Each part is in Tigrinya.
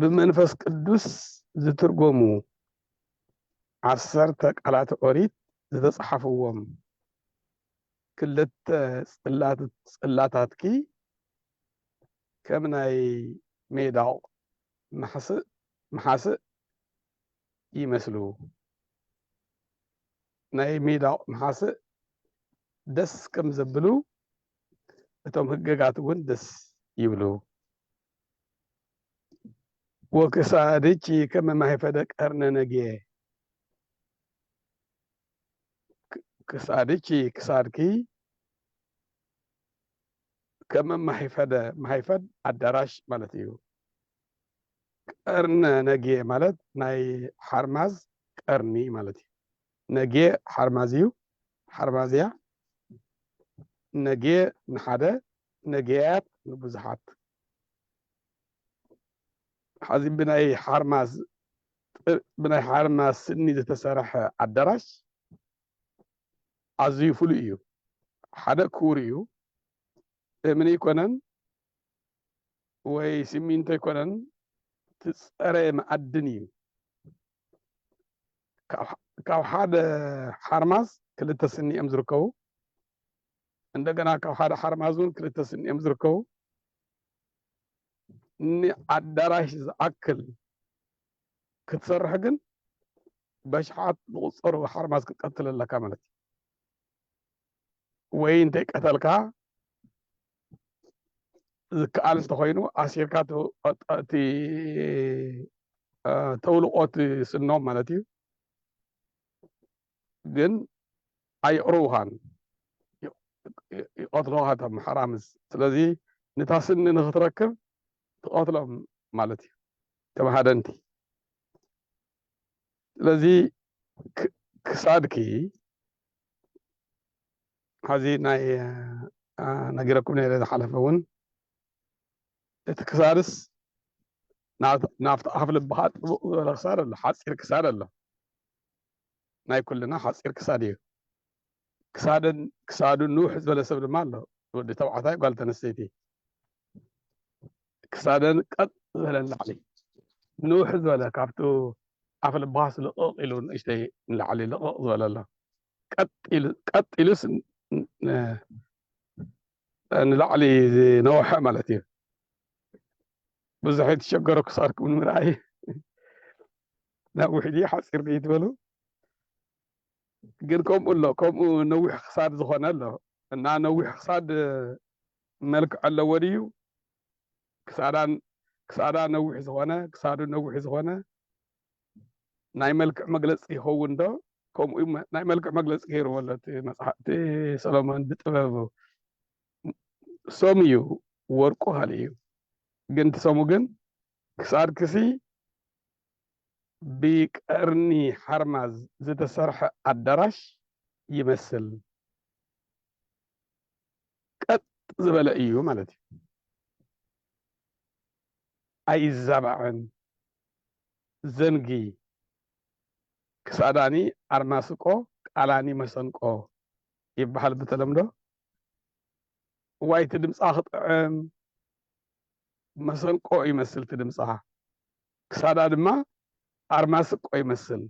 ብመንፈስ ቅዱስ ዝትርጎሙ ዓሰርተ ቃላተ ኦሪት ዝተጻሓፍዎም ክልተ ጽላታትኪ ከም ናይ ሜዳቕ ማሕስእ መሓስእ ይመስሉ። ናይ ሜዳቕ መሓስእ ደስ ከም ዘብሉ እቶም ህገጋት እውን ደስ ይብሉ። ወክሳድኪ ከመ ማኅፈደ ቀርነ ነጌ ክሳድኪ ክሳድኪ ከመ ማኅፈደ ማኅፈድ ኣዳራሽ ማለት እዩ። ቀርነ ነጌ ማለት ናይ ሓርማዝ ቀርኒ ማለት እዩ። ነጌ ሓርማዝ እዩ፣ ሓርማዝ እያ። ነጌ ንሓደ ነጊያት ንብዙሓት ሐዚ ብናይ ሓርማዝ ብናይ ሓርማዝ ስኒ ዝተሰርሐ ኣዳራሽ ኣዝዩ ፍሉይ እዩ። ሓደ ክቡር እዩ። እምኒ ኣይኮነን ወይ ሲሚንቶ ኣይኮነን፣ ትፀረየ መኣድን እዩ። ካብ ሓደ ሓርማዝ ክልተ ስኒ እዮም ዝርከቡ። እንደገና ካብ ሓደ ሓርማዝ እውን ክልተ ስኒ እዮም ዝርከቡ። ንኣዳራሽ ዝኣክል ክትሰርሕ ግን በሽሓት ዝቑፀሩ ሓርማዝ ክትቀትል ኣለካ ማለት እዩ ወይ እንተይቀተልካ ዝከኣል እንተኮይኑ ኣሲርካ እቲ ተውልቆ እቲ ስኖም ማለት እዩ ግን ኣየቕርቡኻን ይቐትሉኻ እቶም ሓራምዝ ስለዚ ንታ ስኒ ንኽትረክብ ትቐትሎም ማለት እዩ እቶም ሃደንቲ ስለዚ ክሳድኪ ሐዚ ናይ ነጊረኩም ነይረ ዝሓለፈ እውን እቲ ክሳድስ ናብቲ ኣፍ ልብኻ ጥቡቕ ዝበለ ክሳድ ኣሎ ሓፂር ክሳድ ኣሎ ናይ ኩልና ሓጺር ክሳድ እዩ። ክሳደን ክሳዱ ንውሕ ዝበለ ሰብ ድማ ኣሎ፣ ወዲ ተባዕታይ ጓል ተነስተይቲ። ክሳደን ቀጥ ዝበለ ንላዕሊ ንውሕ ዝበለ ካብቲ ኣፍ ልባስ ልቕቕ ኢሉ ንእሽተይ ንላዕሊ ልቕቕ ዝበለ ኣሎ። ቀጥ ኢሉስ ንላዕሊ ዝነውሐ ማለት እዩ። ብዙሕ የተሸገሩ ክሳድኩም ንምርኣይ ናብ ውሕጂ ሓጺር ምኢት በሉ ግን ከምኡ ኣሎ ከምኡ ነዊሕ ክሳድ ዝኾነ ኣሎ እና ነዊሕ ክሳድ መልክዕ ኣለዎ ድዩ ክሳዳን ክሳዳ ነዊሕ ዝኾነ ክሳዱ ነዊሕ ዝኾነ ናይ መልክዕ መግለፂ ይኸውን ዶ ከምኡ ናይ መልክዕ መግለፂ ገይርዎ ኣሎ እቲ መፅሓፍቲ ሰሎሞን ብጥበቡ ሰሙ እዩ ወርቁ ካልእ እዩ ግን እቲ ሰሙ ግን ክሳድ ክሲ ብቀርኒ ሓርማዝ ዝተሰርሐ ኣዳራሽ ይመስል። ቀጥ ዝበለ እዩ ማለት እዩ። ኣይዛባዕን ዘንጊ ክሳዳኒ ኣርማስቆ ቃላኒ መሰንቆ ይበሃል ብተለምዶ ዋይቲ ድምፃ ክጥዕም መሰንቆ ይመስልቲ ድምፃ ክሳዳ ድማ ኣርማ ስቆ ይመስል።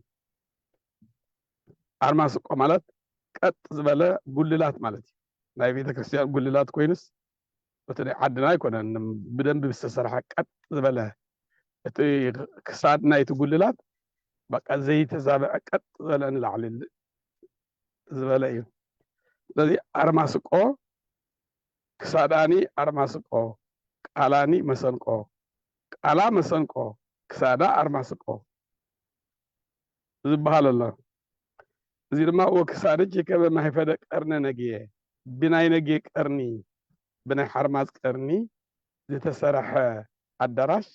ኣርማ ስቆ ማለት ቀጥ ዝበለ ጉልላት ማለት እዩ። ናይ ቤተ ክርስቲያን ጉልላት ኮይኑስ እቲ ናይ ዓድና ኣይኮነን። ብደንብ ዝተሰርሐ ቀጥ ዝበለ እቲ ክሳድ ናይቲ ጉልላት በቃ ዘይተዛበዐ ቀጥ ዝበለ ንላዕሊ ዝበለ እዩ። ስለዚ ኣርማ ስቆ ክሳዳኒ ኣርማ ስቆ ቃላኒ መሰንቆ ቃላ መሰንቆ ክሳዳ ኣርማ ስቆ ዝብሃል ኣሎ። እዚ ድማ ወክሳድኪ ከመ ማኅፈደ ቀርነ ነግየ፣ ብናይ ነግየ ቀርኒ፣ ብናይ ሓርማዝ ቀርኒ ዝተሰርሐ ኣዳራሽ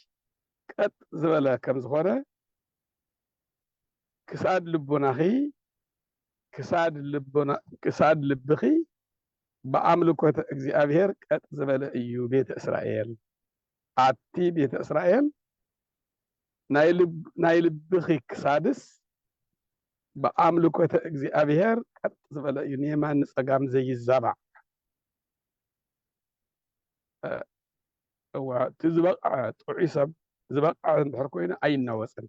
ቀጥ ዝበለ ከም ዝኾነ ክሳድ ልቦናኺ ክሳድ ልብኺ ብኣምልኮተ እግዚኣብሔር ቀጥ ዝበለ እዩ ቤተ እስራኤል ኣቲ ቤተ እስራኤል ናይ ልብኺ ክሳድስ ብኣምልኮተ እግዚኣብሔር ቀጥ ዝበለ እዩ ንየማን ንጸጋም ዘይዛባዕ እወ እቲ ዝበቕዐ ጥዑይ ሰብ ዝበቕዐ እንድሕር ኮይኑ ኣይናወፅን።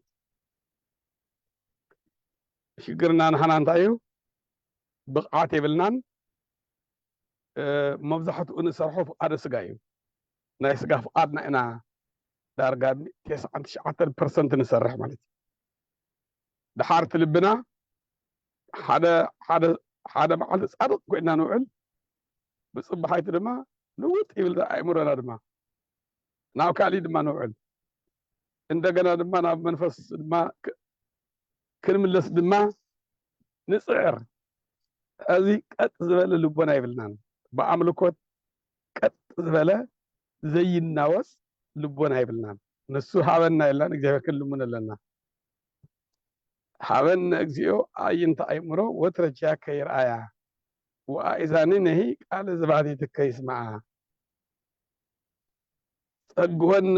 ሽግርና ንሓና እንታይ እዩ? ብቕዓት የብልናን። መብዛሕትኡ ንሰርሖ ፍቓደ ስጋ እዩ። ናይ ስጋ ፍቃድና ኢና ዳርጋ ቴስዓን ትሽዓተን ፐርሰንት ንሰርሕ ማለት እዩ። ድሓር እቲ ልብና ሓደ ሓደ ሓደ መዓልቲ ጻድቕ ኮይና ንውዕል ብጽባሓይቲ ድማ ልውጥ ይብል ኣእምሮና ድማ ናብ ካልእ ድማ ንውዕል እንደገና ድማ ናብ መንፈስ ድማ ክንምለስ ድማ ንጽዕር። እዚ ቀጥ ዝበለ ልቦና የብልናን። ብኣምልኮት ቀጥ ዝበለ ዘይናወጽ ልቦና የብልናን ንሱ ሃበና የላን እግዚኣብሔር ክንልምኖ ኣለና ሃበነ እግዚኦ ኣዕይንተ ኣእምሮ ወትረ ኪያከ ይርኣያ ወኣእዛንነሂ ቃለ ዘባሕቲትከ ይስምዓ ጸግወነ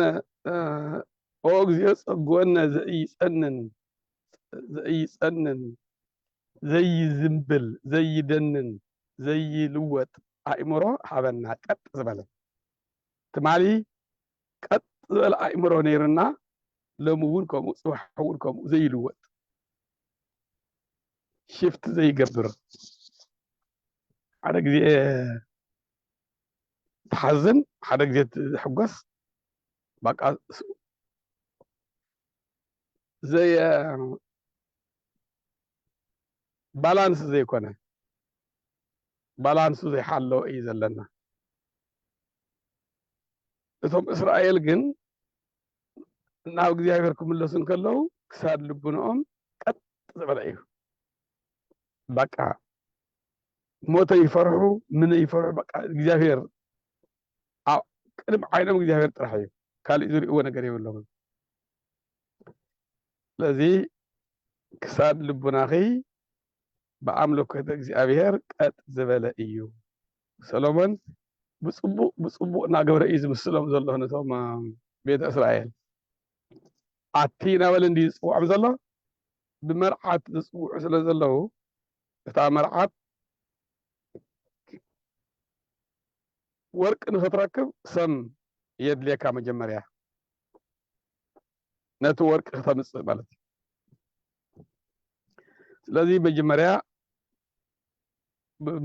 ኦ እግዚኦ ጸግወነ ዘኢይጸንን ዘይጸንን ዘይዝንብል ዘይደንን ዘይልወጥ ኣእምሮ ሃበና ቀጥ ዝበለ ትማሊ ቀጥ ዝበለ ኣእምሮ ነይርና ሎሚ እውን ከምኡ ፅባሕ እውን ከምኡ ዘይልወጥ ሽፍት ዘይገብር ሓደ ግዜ ትሓዝን ሓደ ግዜ ትሕጎስ በቃ ዘየ ባላንስ ዘይኮነ ባላንሱ ዘይሓለወ እዩ ዘለና እቶም እስራኤል ግን ናብ እግዚኣብሔር ክምለሱ እንከለዉ ክሳድ ልቡንኦም ቀጥ ዝበለ እዩ በቃ ሞተ ይፈርሑ ምን ይፈርሑ በቃ እግዚኣብሔር ቅድሚ ዓይኖም እግዚኣብሔር ጥራሕ እዩ ካልእ ዝርእዎ ነገር የብሎምን ስለዚ ክሳብ ልቡናኺ ብኣምልኮተ እግዚኣብሔር ቀጥ ዝበለ እዩ። ሰሎሞን ብፅቡቅ ብፅቡቅ እናገበረ እዩ ዝምስሎም ዘሎ ነቶም ቤተ እስራኤል ኣቲ እናበለ እንዲ ዝፅውዖም ዘሎ ብመርዓት ዝፅውዑ ስለ ዘለዉ እታ መርዓት ወርቂ ንክትረክብ ሰም የድልየካ መጀመርያ ነቲ ወርቂ ክተምጽእ ማለት እዩ ስለዚ መጀመርያ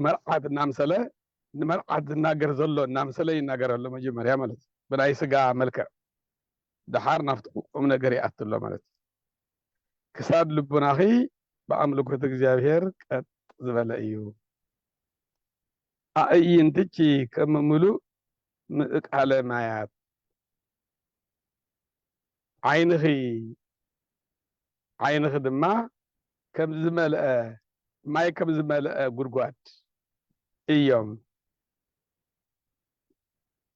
መርዓት እናምሰለ ንመርዓት ዝናገር ዘሎ እናምሰለ ይናገር ኣሎ መጀመርያ ማለት እዩ ብናይ ስጋ መልክዕ ድሓር ናብቲ ቁም ነገር ይኣት ኣሎ ማለት እዩ ክሳድ ልቡናኺ ብኣምልኮት እግዚኣብሄር ቀጥ ዝበለ እዩ ኣዕይንትኪ ከም ምሉእ ምእቃለ ማያት፣ ዓይንኺ ዓይንኺ ድማ ከም ዝመልአ ማይ ከም ዝመልአ ጉድጓድ እዮም።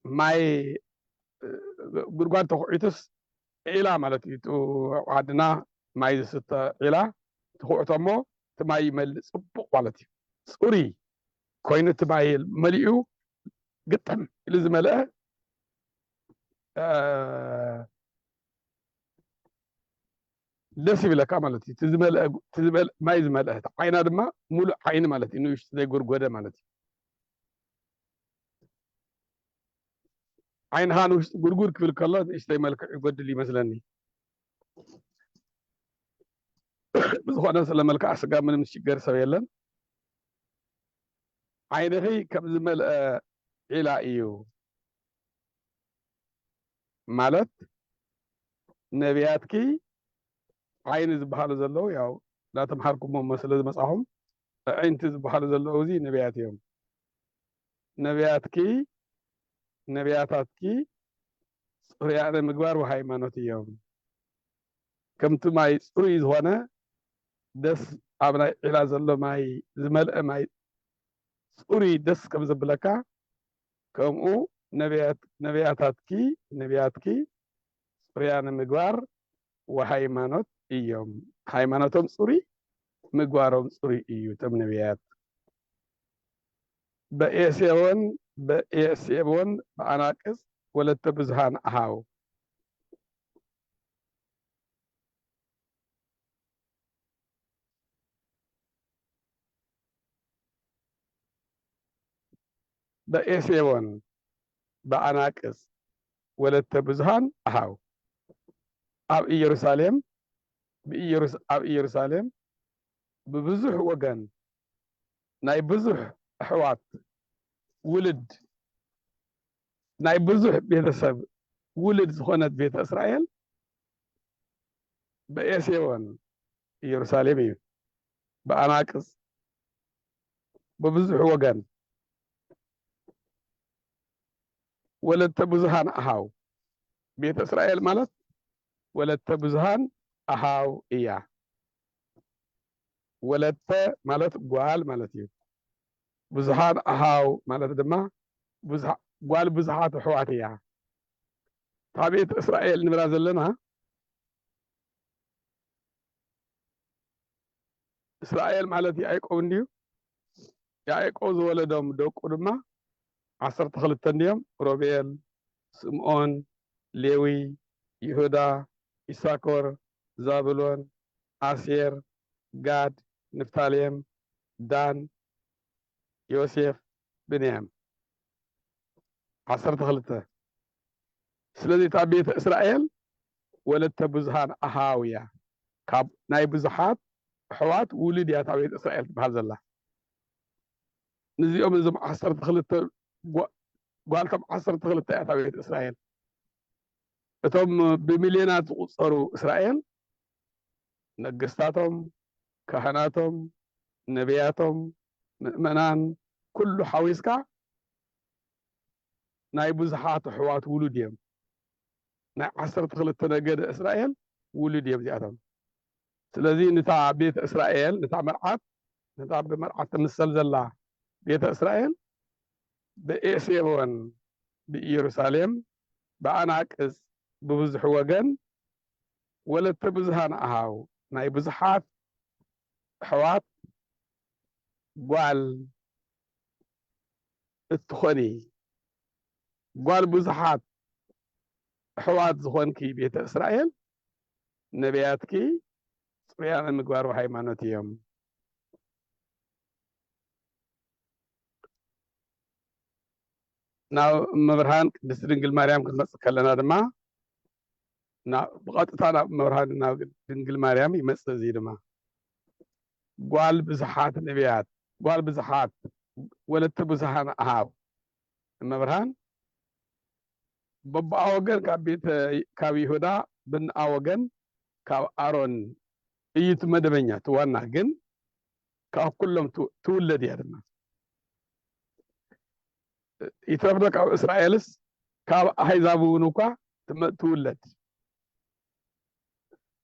ማይ ጉድጓድ ተኹዒቱስ ዒላ ማለት እዩ። እቲ ኣብ ዓድና ማይ ዝስተ ዒላ ትኹዕቶ እሞ እቲ ማይ ይመልእ ጽቡቕ ማለት እዩ። ጽሩይ ኮይኑ እቲ ማይ መሊኡ ግጥም ኢሉ ዝመልአ ደስ ይብለካ ማለት እዩ። እቲ ማይ ዝመልአ ዓይና ድማ ሙሉእ ዓይኒ ማለት እዩ፣ ንእሽቱ ዘይጎድጎደ ማለት እዩ። ዓይንኻ ንውሽጢ ጉርጉር ክብል ከሎ ንእሽተይ መልክዕ ይጎድል ይመስለኒ። ብዝኾነ ስለ መልክዓ ስጋ ምንም ዝሽገር ሰብ የለን። ዓይንኺ ከም ዝመልኣ ዒላ እዩ ማለት ነብያትኪ ዓይኒ ዝበሃሉ ዘለዉ ያው እናተምሓርኩሞም ስለ ዝመጻኹም ኣዒንቲ ዝበሃሉ ዘለዉ እዚ ነብያት እዮም ነብያትኪ ነብያታትኪ ጽሩያነ ምግባር ወሃይማኖት እዮም ከምቲ ማይ ጽሩይ ዝኾነ ደስ ኣብ ናይ ዒላ ዘሎ ማይ ዝመልአ ማይ ጽሩይ ደስ ከም ዘብለካ ከምኡ ነቢያት ነቢያታትኪ ነቢያትኪ ጽሩያነ ምግባር ወሃይማኖት እዮም ሃይማኖቶም ጽሩይ ምግባሮም ጽሩይ እዩ እቶም ነቢያት በኤሴዎን በኤሴቦን በኣናቅጽ ወለተ ብዙሃን ኣሃው በኤሴቦን በኣናቅጽ ወለተ ብዙኃን ኣኃው ኣብ ኢየሩሳሌም ኣብ ኢየሩሳሌም ብብዙኅ ወገን ናይ ብዙኅ ኣኅዋት ውልድ ናይ ብዙሕ ቤተሰብ ውልድ ዝኾነት ቤተ እስራኤል በኤሴዎን ኢየሩሳሌም እዩ ብኣናቅጽ ብብዙሕ ወገን ወለተ ብዙሃን ኣሃው ቤተ እስራኤል ማለት ወለተ ብዙሃን ኣሃው እያ። ወለተ ማለት ጓል ማለት እዩ። ብዙሓን ኣኃው ማለት ድማ ጓል ብዙሓት ኣኅዋት እያ። እታ ቤት እስራኤል ንብላ ዘለና እስራኤል ማለት ያዕቆብ እንድዩ። ያዕቆብ ዝወለዶም ደቁ ድማ ዓሰርተ ክልተ እንድዮም፣ ሮቤል፣ ስምዖን፣ ሌዊ፣ ይሁዳ፣ ኢሳኮር፣ ዛብሎን፣ ኣሴር፣ ጋድ፣ ንፍታሌም፣ ዳን፣ ዮሴፍ፣ ብንያም። ዓሰርተ ክልተ፣ ስለዚ እታ ቤተ እስራኤል ወለተ ብዙኃን ኣኀው እያ፣ ካብ ናይ ብዙኃት ኣኅዋት ውሉድ እያ እታ ቤተ እስራኤል ትበሃል ዘላ። ንዚኦም እዞም ዓሰርተ ክልተ ጓልቶም ዓሰርተ ክልተ እያ እታ ቤተ እስራኤል። እቶም ብሚልዮናት ዝቝጸሩ እስራኤል ነገስታቶም፣ ካህናቶም፣ ነብያቶም፣ ምእመናን ኩሉ ሓዊስካ ናይ ብዙሓት ኣሕዋት ውሉድ እዮም። ናይ ዓሰርተ ክልተ ነገደ እስራኤል ውሉድ እዮም እዚኣቶም። ስለዚ ነታ ቤተ እስራኤል ነታ መርዓት ነታ ብመርዓት ትምሰል ዘላ ቤተ እስራኤል ብኤሴቦን ብኢየሩሳሌም ብኣናቅጽ ብብዙሕ ወገን ወለተ ብዙሃን ኣሃው ናይ ብዙሓት ኣሕዋት ጓል እትኾኒ ጓል ብዙሓት ኣሕዋት ዝኾንኪ ቤተ እስራኤል ነቢያትኪ ጽሩያነ ምግባር ወሃይማኖት እዮም። ናብ እመብርሃን ቅድስቲ ድንግል ማርያም ክንመጽእ ከለና ድማ ብቐጥታ ናብ እመብርሃን ናብ ድንግል ማርያም ይመጽእ እዚ ድማ ጓል ብዙሓት ነቢያት ጓል ብዙሓት ወለተ ብዙሃን ኣሃብ እመብርሃን በቦኣ ወገን ካብ ቤተ ካብ ይሁዳ ብንኣ ወገን ካብ ኣሮን እዩ እቲ መደበኛ እቲ ዋና ግን ካብ ኩሎም ትውለድ እያ ድማ ይትረፍዶ ካብ እስራኤልስ ካብ ኣሕዛብ እውን እኳ ትውለድ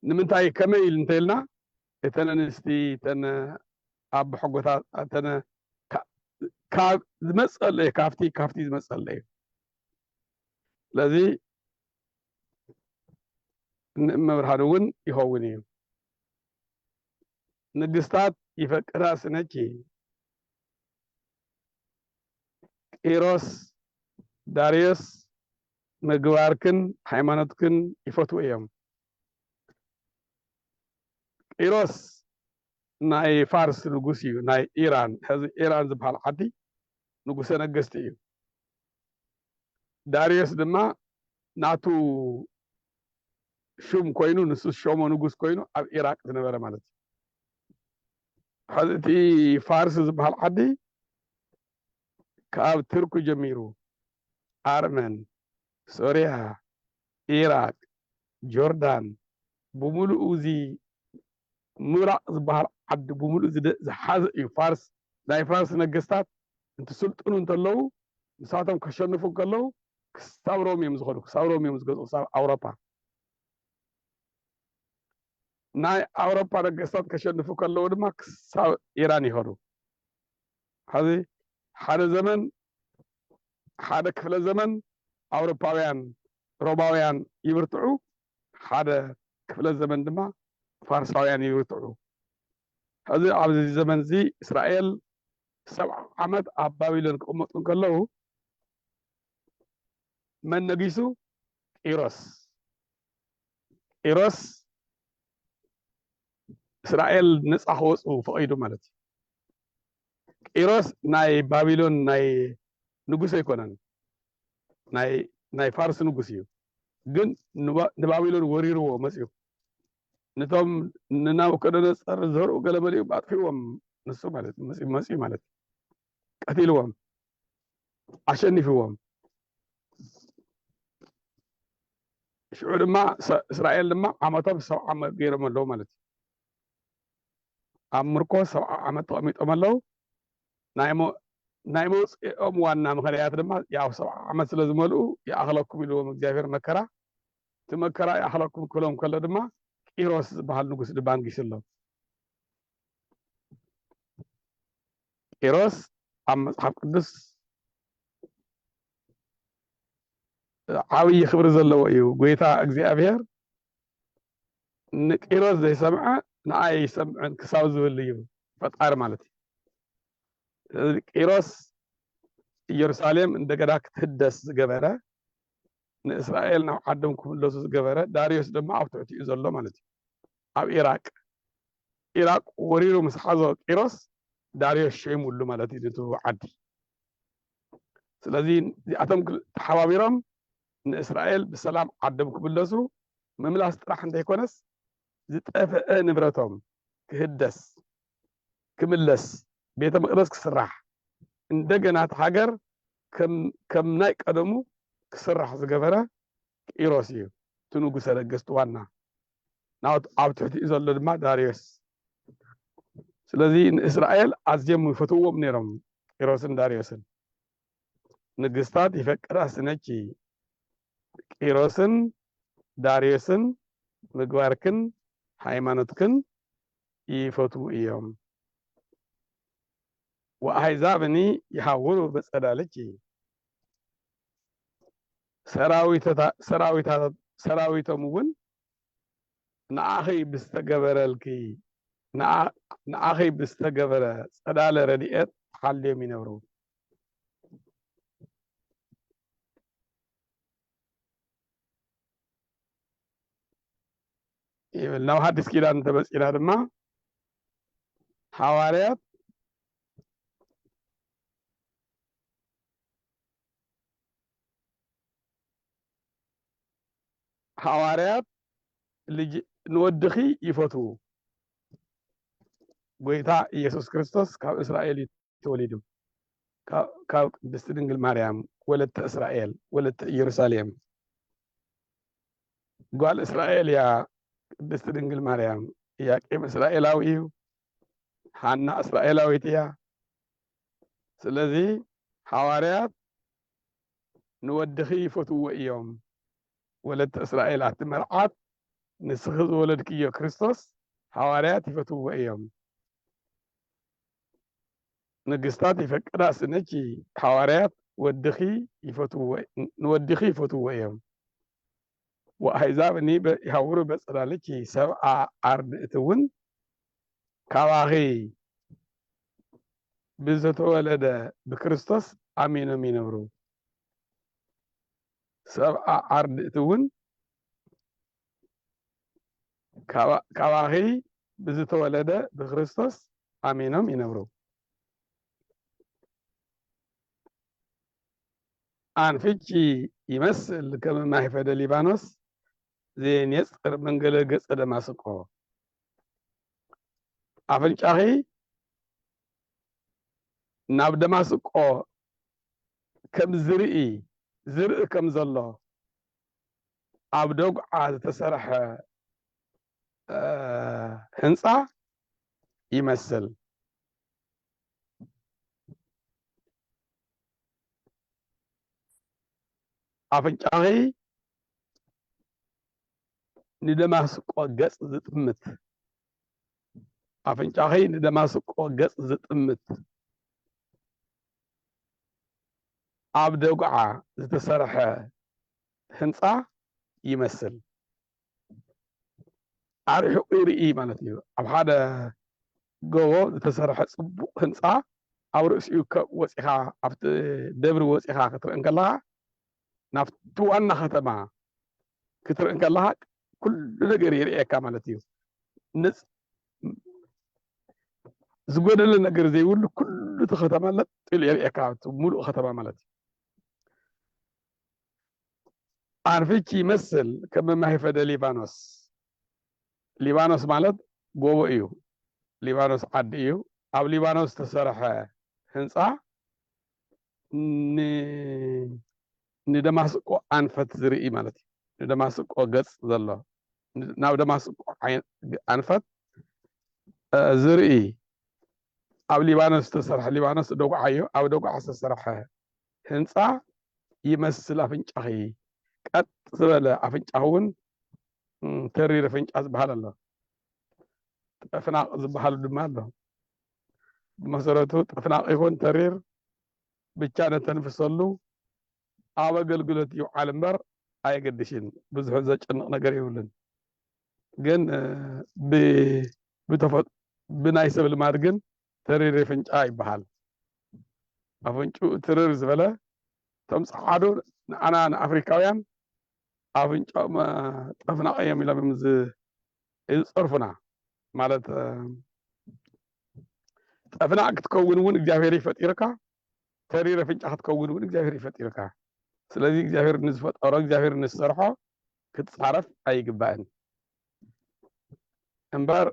ንምንታይ ከመይ ኢል እንተኢልና እተን ኣንስቲ እተን ኣብ ሕጎታት እተን ካብ ዝመፀለ እዩ ካብቲ ካብቲ ዝመፀለ እዩ ስለዚ ንእመብርሃን እውን ይኸውን እዩ ንግስታት ይፈቅራ ስነኪ ቂሮስ ዳርዮስ ምግባርክን ሃይማኖትክን ይፈትዉ እዮም። ቂሮስ ናይ ፋርስ ንጉስ እዩ ናይ ኢራን ሕዚ ኢራን ዝበሃል ዓዲ ንጉሰ ነገስቲ እዩ ዳርዮስ ድማ ናቱ ሹም ኮይኑ ንሱ ዝሾሞ ንጉስ ኮይኑ ኣብ ኢራቅ ዝነበረ ማለት እዩ። ሕዚ እቲ ፋርስ ዝበሃል ዓዲ ካብ ትርኩ ጀሚሩ ኣርመን፣ ሶርያ፣ ኢራቅ፣ ጆርዳን ብምሉኡ እዚ ምብራቕ ዝበሃል ዓዲ ብምሉኡ ዝሓዘ እዩ ፋርስ ናይ ፋርስ ነገስታት እንትስልጥኑ እንተለዉ ንሳቶም ከሸንፉ እንከለዉ ክሳብ ሮም እዮም ዝኸዱ ክሳብ ሮም እዮም ዝገዝኡ ክሳብ ኣውሮፓ ናይ ኣውሮፓ ነገስታት ከሸንፉ ከለዉ ድማ ክሳብ ኢራን ይኸዱ ሕዚ ሓደ ዘመን ሓደ ክፍለ ዘመን ኣውሮፓውያን ሮማውያን ይብርትዑ ሓደ ክፍለ ዘመን ድማ ፋርሳውያን ይብርትዑ ሕዚ ኣብዚ ዘመን እዚ እስራኤል ሰብዓ ዓመት ኣብ ባቢሎን ክቕመጡ እንከለዉ መን ነጊሱ ቂሮስ ቂሮስ እስራኤል ነፃ ክወፁ ፈቂዱ ማለት እዩ። ቂሮስ ናይ ባቢሎን ናይ ንጉስ ኣይኮነን፣ ናይ ፋርስ ንጉስ እዩ። ግን ንባቢሎን ወሪርዎ መፅዩ ነቶም ንናቡከደነፀር ዘርኡ ገለመሊኡ ኣጥፊዎም ንሱ ማለት መፅዩ ማለት ቀቲልዎም ኣሸኒፍዎም። ሽዑ ድማ እስራኤል ድማ ዓመቶም ሰብዓ ዓመት ገይሮም ኣለዉ ማለት እዩ ኣብ ምርኮ ሰብዓ ዓመት ተቐሚጦም ኣለዉ ናይ መውፅኦም ዋና ምክንያት ድማ ያው ሰብዓ ዓመት ስለ ዝመልኡ ይኣኽለኩም ኢልዎም እግዚኣብሔር መከራ እቲ መከራ ይኣኽለኩም ክብሎም ከሎ ድማ ቂሮስ ዝበሃል ንጉስ ድባንጊስ ኣሎ ቂሮስ ኣብ መጽሓፍ ቅዱስ ዓብዪ ክብሪ ዘለዎ እዩ ጎይታ እግዚኣብሔር ንቂሮስ ዘይሰምዐ ንኣይ ይሰምዐን ክሳብ ዝብል እዩ ፈጣሪ ማለት እዩ ቂሮስ ኢየሩሳሌም እንደገና ክትህደስ ዝገበረ ንእስራኤል ናብ ዓዶም ክምለሱ ዝገበረ ዳርዮስ ድማ ኣብ ትሕቲኡ ዘሎ ማለት እዩ ኣብ ኢራቅ ኢራቅ ወሪሩ ምስ ሓዞ ቂሮስ ዳርዮስ ሸይሙሉ ማለት እዩ ንቱ ዓዲ ስለዚ እዚኣቶም ተሓባቢሮም ንእስራኤል ብሰላም ዓዶም ክምለሱ ምምላስ ጥራሕ እንተይኮነስ ዝጠፍአ ንብረቶም ክህደስ ክምለስ ቤተ መቅደስ ክስራሕ እንደገና እቲ ሃገር ከም ናይ ቀደሙ ክስራሕ ዝገበረ ቂሮስ እዩ፣ እቲ ንጉሰ ነገስት ዋና፣ ኣብ ትሕቲኡ ዘሎ ድማ ዳርዮስ። ስለዚ ንእስራኤል ኣዝዮም ይፈትውዎም ነይሮም ቂሮስን ዳርዮስን። ንግስታት ይፈቅዳ ስነኪ ቂሮስን ዳርዮስን ምግባርክን ሃይማኖትክን ይፈትዉ እዮም። ወኣሕዛብኒ ይሃውሩ ብጽላልኪ፣ ሰራዊቶም እውን ንዓኺ ብዝተገበረልኪ፣ ንዓኺ ብዝተገበረ ጽላለ ረድኤት ተሓልዮም ይነብሩ። ይብል ናብ ሓዲስ ኪዳን እንተመፂና ድማ ሓዋርያት ሓዋርያት ንወድኺ ይፈትዉ ጎይታ ኢየሱስ ክርስቶስ ካብ እስራኤል ተወሊዱ። ካብ ቅድስቲ ድንግል ማርያም ወለተ እስራኤል ወለተ ኢየሩሳሌም ጓል እስራኤል እያ ቅድስቲ ድንግል ማርያም። ኢያቄም እስራኤላዊ እዩ፣ ሓና እስራኤላዊት እያ። ስለዚ ሓዋርያት ንወድኺ ይፈትዎ እዮም ወለተ እስራኤል ኣቲ መርዓት ንስኺ ዝወለድክዮ ክርስቶስ ሓዋርያት ይፈትዎ እዮም። ንግስታት ይፈቅዳ ስነኪ ሓዋርያት ወድኺ ይፈትውዎ ንወድኺ ይፈትውዎ እዮም ወኣሕዛብ እኒ ይሃውሩ በጽላልኪ ሰብኣ ኣርድእቲ እውን ካባኺ ብዘተወለደ ብክርስቶስ ኣሚኖም ይነብሩ ሰብኣ ኣርድእቲ እውን ካባኺ ብዝተወለደ ብክርስቶስ ኣሚኖም ይነብሩ። ኣንፍቺ ይመስል ከም ማይ ፈደ ሊባኖስ ዘየንየፅር መንገለ ገፀ ደማስቆ ኣፍንጫኺ ናብ ደማስቆ ከም ዝርኢ ዝርኢ ከም ዘሎ ኣብ ደጉዓ ዝተሰርሐ ህንፃ ይመስል። ኣፍንጫኺ ንደማስቆ ገጽ ዝጥምት ኣፍንጫኺ ንደማስቆ ገጽ ዝጥምት ኣብ ደጉዓ ዝተሰርሐ ህንጻ ይመስል ኣርሒቑ ይርኢ ማለት እዩ ኣብ ሓደ ጎቦ ዝተሰርሐ ጽቡቕ ህንጻ ኣብ ርእሲኡ ወጺኻ ኣብቲ ደብሪ ወጺኻ ክትርኢ ከለኻ ናብቲ ዋና ከተማ ክትርኢ ከለኻ ኩሉ ነገር ይርእየካ ማለት እዩ። ዝጎደለ ነገር ዘይብሉ ኩሉ እቲ ከተማ ለጥ ኢሉ የርእየካ ሙሉእ ከተማ ማለት እዩ። ኣንፊቺ ይመስል ከም መማሂፈደ ሊባኖስ ሊባኖስ ማለት ጎቦ እዩ። ሊባኖስ ዓዲ እዩ። ኣብ ሊባኖስ ዝተሰርሐ ህንፃ ንደማስቆ ኣንፈት ዝርኢ ማለት እዩ ንደማስቆ ገጽ ዘሎ ናብ ደማስቆ ኣንፈት ዝርኢ ኣብ ሊባኖስ ዝተሰርሐ ሊባኖስ ደጉዓ እዩ ኣብ ደጉዓ ዝተሰርሐ ህንፃ ይመስል ኣፍንጫኺ ቀጥ ዝበለ ኣፍንጫኺ እውን ተሪር ኣፍንጫ ዝበሃል ኣሎ ጠፍናቕ ዝበሃሉ ድማ ኣሎ ብመሰረቱ ጠፍናቕ ይኹን ተሪር ብቻ ነተንፍሰሉ ኣብ ኣገልግሎት ይውዓል እምበር ኣየገድሽን ብዙሕ ዘጨንቕ ነገር የብሉን ግን ብናይ ሰብ ልማድ ግን ተሪር የፍንጫ ይበሃል ኣፍንጭኡ ትርር ዝበለ እቶም ፀዓዱ ንዓና ንኣፍሪካውያን ኣፍንጫኦም ጠፍናቐ እዮም ኢሎም እዮም ይጸርፉና ማለት ጠፍናዕ ክትከውን እውን እግዚኣብሔር ይፈጢርካ ተሪር ኣፍንጫ ክትከውን እውን እግዚኣብሔር ይፈጢርካ ስለዚ እግዚኣብሔር ንዝፈጠሮ እግዚኣብሔር ንዝሰርሖ ክትፃረፍ ኣይግባእን እምበር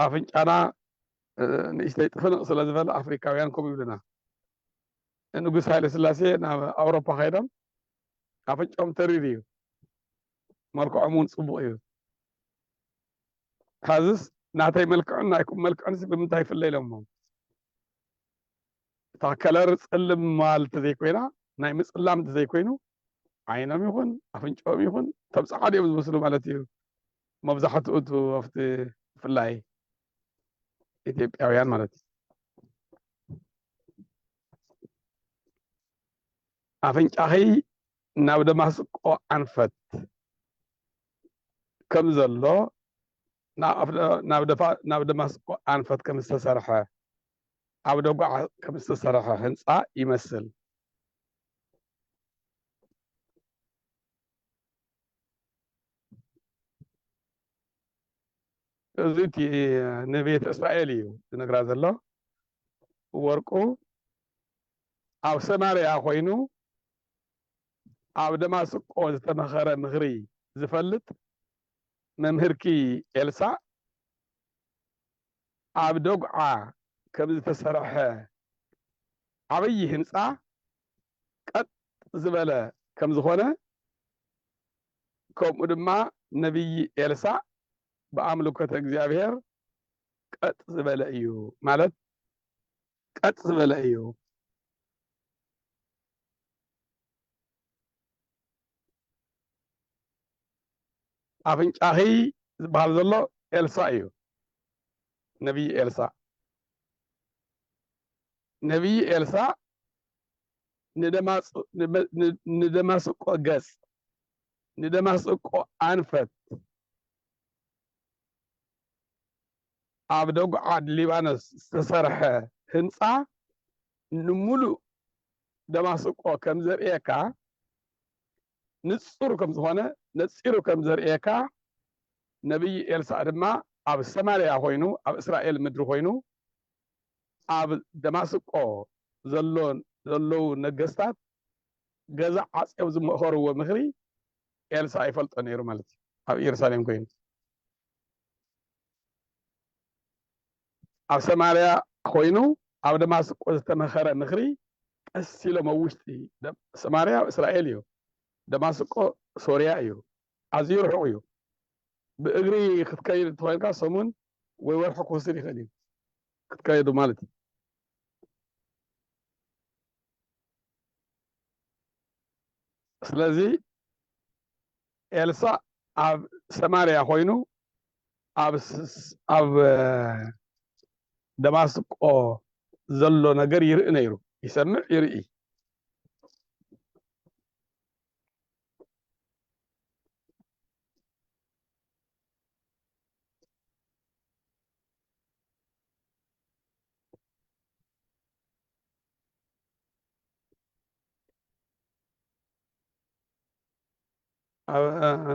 ኣፍንጫና ንእሽተይ ጥፍንቕ ስለ ዝበለ ኣፍሪካውያን ከምኡ ይብሉና ንጉስ ሃይለ ስላሴ ናብ ኣውሮፓ ከይዶም ኣፍንጮም ተሪር እዩ መልክዖም እውን ፅቡቕ እዩ ካብዚስ ናተይ መልክዕን ናይኩም መልክዕንስ ብምንታይ ይፍለ ኢሎሞ እታ ከለር ፅልም ምባል እንተዘይኮይና ናይ ምፅላም እንተዘይኮይኑ ዓይኖም ይኹን ኣፍንጮኦም ይኹን እቶም ፀዓዱ እዮም ዝመስሉ ማለት እዩ መብዛሕትኡ እቱ ኣብቲ ብፍላይ ኢትዮጵያውያን ማለት እዩ ኣፍንጫኺ ናብ ደማስቆ ኣንፈት ከም ዘሎ ናብ ደማስቆ ኣንፈት ከም ዝተሰርሐ ኣብ ደጉዓ ከም ዝተሰርሐ ህንፃ ይመስል። እዚ እቲ ንቤተ እስራኤል እዩ ዝነግራ ዘሎ ወርቁ ኣብ ሰማርያ ኮይኑ ኣብ ደማስቆ ዝተመኸረ ምኽሪ ዝፈልጥ መምህርኪ ኤልሳ ኣብ ደጉዓ ከምዝተሰርሐ ዓብዪ ህንፃ ቀጥ ዝበለ ከምዝኾነ ከምኡ ድማ ነብዪ ኤልሳእ ብኣምልኮተ እግዚኣብሔር ቀጥ ዝበለ እዩ ማለት ቀጥ ዝበለ እዩ። ኣፍንጫኺ ዝበሃል ዘሎ ኤልሳ እዩ ነብዪ ኤልሳ ነብዪ ኤልሳ ንደማስቆ ገጽ ንደማስቆ ኣንፈት ኣብ ደጉዓድ ሊባኖስ ዝተሰርሐ ህንጻ ንምሉእ ደማስቆ ከም ዘርእየካ ንጹር ከም ዝዀነ ነጺሩ ከም ዘርእየካ ነብዪ ኤልሳእ ድማ ኣብ ሰማርያ ዀይኑ ኣብ እስራኤል ምድሪ ዀይኑ ኣብ ደማስቆ ዘሎ ዘለዉ ነገስታት ገዛ ዓጼው ዝመኸርዎ ምኽሪ ኤልሳ ይፈልጦ ነይሩ ማለት እዩ ኣብ ኢየሩሳሌም ኮይኑ ኣብ ሰማርያ ኮይኑ ኣብ ደማስቆ ዝተመኸረ ምኽሪ ቀስ ኢሎም ኣብ ውሽጢ ሰማርያ እስራኤል እዩ ደማስቆ ሶርያ እዩ ኣዝዩ ርሑቕ እዩ ብእግሪ ክትከይድ እንተኮይንካ ሰሙን ወይ ወርሒ ክወስድ ይኽእል እዩ ክትከይዱ ማለት እዩ ስለዚ ኤልሳእ ኣብ ሰማርያ ኮይኑ ኣብ ደማስቆ ዘሎ ነገር ይርኢ ነይሩ ይሰምዕ ይርኢ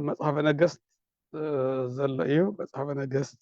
መጽሓፈ ነገስት ዘሎ እዩ መጽሓፈ ነገስት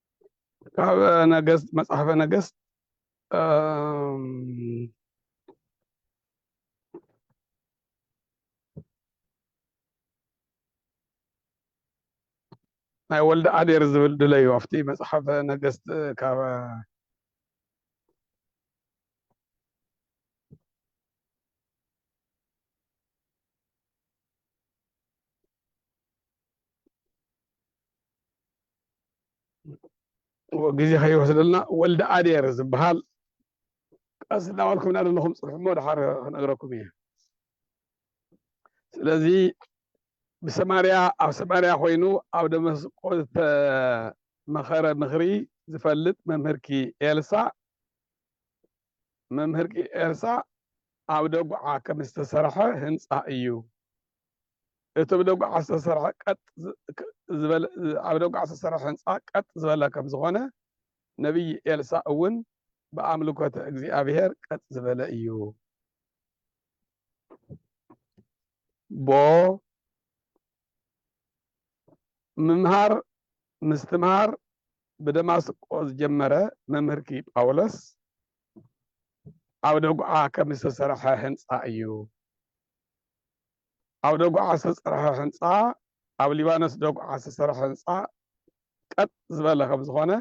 ካብ ነገስት መጽሓፈ ነገስት ናይ ወልደ ኣዴር ዝብል ድለዩ ኣብቲ መጽሓፈ ነገስት ካብ ግዜ ከይወስደልና ወልደ ኣዴር ዝበሃል ቀስ እናበልኩም እናደለኹም ፅርሕሞ ድሓር ክነግረኩም እየ ስለዚ ብሰማርያ ኣብ ሰማርያ ኮይኑ ኣብ ደመስቆ ዝተመኸረ ምኽሪ ዝፈልጥ መምህርኪ ኤልሳ መምህርኪ ኤልሳ ኣብ ደጉዓ ከም ዝተሰርሐ ህንፃ እዩ እቲ ብደጉዓ ዝተሰርሐ ቀጥ ዝበለ ኣብ ደጉዓ ዝተሰርሐ ህንጻ ቀጥ ዝበለ ከም ዝኾነ ነብዪ ኤልሳእ እውን ብኣምልኮተ እግዚኣብሔር ቀጥ ዝበለ እዩ ቦ ምምሃር ምስትምሃር ብደማስቆ ዝጀመረ መምህርኪ ጳውሎስ ኣብ ደጉዓ ከም ዝተሰርሐ ህንጻ እዩ ኣብ ደጉዓ ዝተፀርሐ ህንፃ ኣብ ሊባኖስ ደጉዓ ዝተሰርሐ ህንፃ ቀጥ ዝበለ ከም ዝኾነ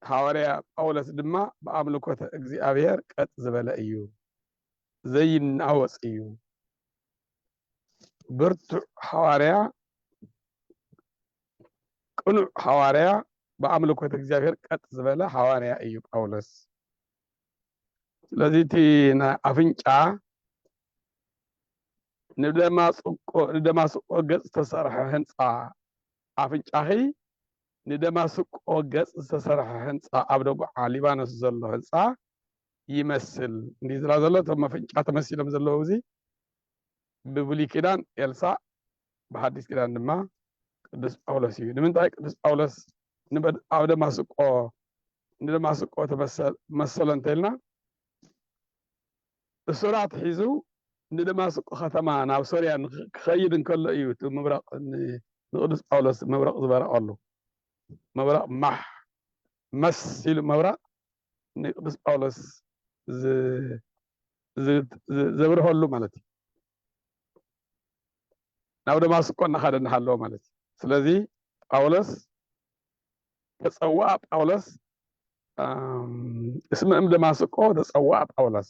ሃዋርያ ጳውሎስ ድማ ብኣምልኮተ እግዚኣብሔር ቀጥ ዝበለ እዩ ዘይናወፅ እዩ ብርቱዕ ሃዋርያ ቅኑዕ ሃዋርያ ብኣምልኮተ እግዚኣብሔር ቀጥ ዝበለ ሃዋርያ እዩ ጳውሎስ ስለዚ እቲ ናይ ኣፍንጫ ንደማስቆ ንደማስቆ ገጽ ዝተሰርሐ ህንጻ ኣፍንጫኺ ንደማስቆ ገጽ ዝተሰርሐ ህንጻ ኣብ ደጉዓ ሊባኖስ ዘሎ ህንጻ ይመስል እንዲዝራ ዘሎ እቶም መፍንጫ ተመሲሎም ዘለዉ እዚ ብብሉይ ኪዳን ኤልሳእ ብሓዲስ ኪዳን ድማ ቅዱስ ጳውሎስ እዩ። ንምንታይ ቅዱስ ጳውሎስ ኣብ ደማስቆ ንደማስቆ መሰሎ እንተልና እሱራት ሒዙ ንደማስቆ ከተማ ናብ ሶርያ ክኸይድ እንከሎ እዩ እቲ ምብራቕ ንቅዱስ ጳውሎስ መብረቕ ዝበረቐሉ መብረቕ ማሕ መስ ኢሉ መብራቕ ንቅዱስ ጳውሎስ ዘብርሀሉ ማለት እዩ ናብ ደማስቆ እናኻደ እናሃለወ ማለት እዩ ስለዚ ጳውሎስ ተፀዋኣ ጳውሎስ እስመ እም ደማስቆ ተፀዋኣ ጳውሎስ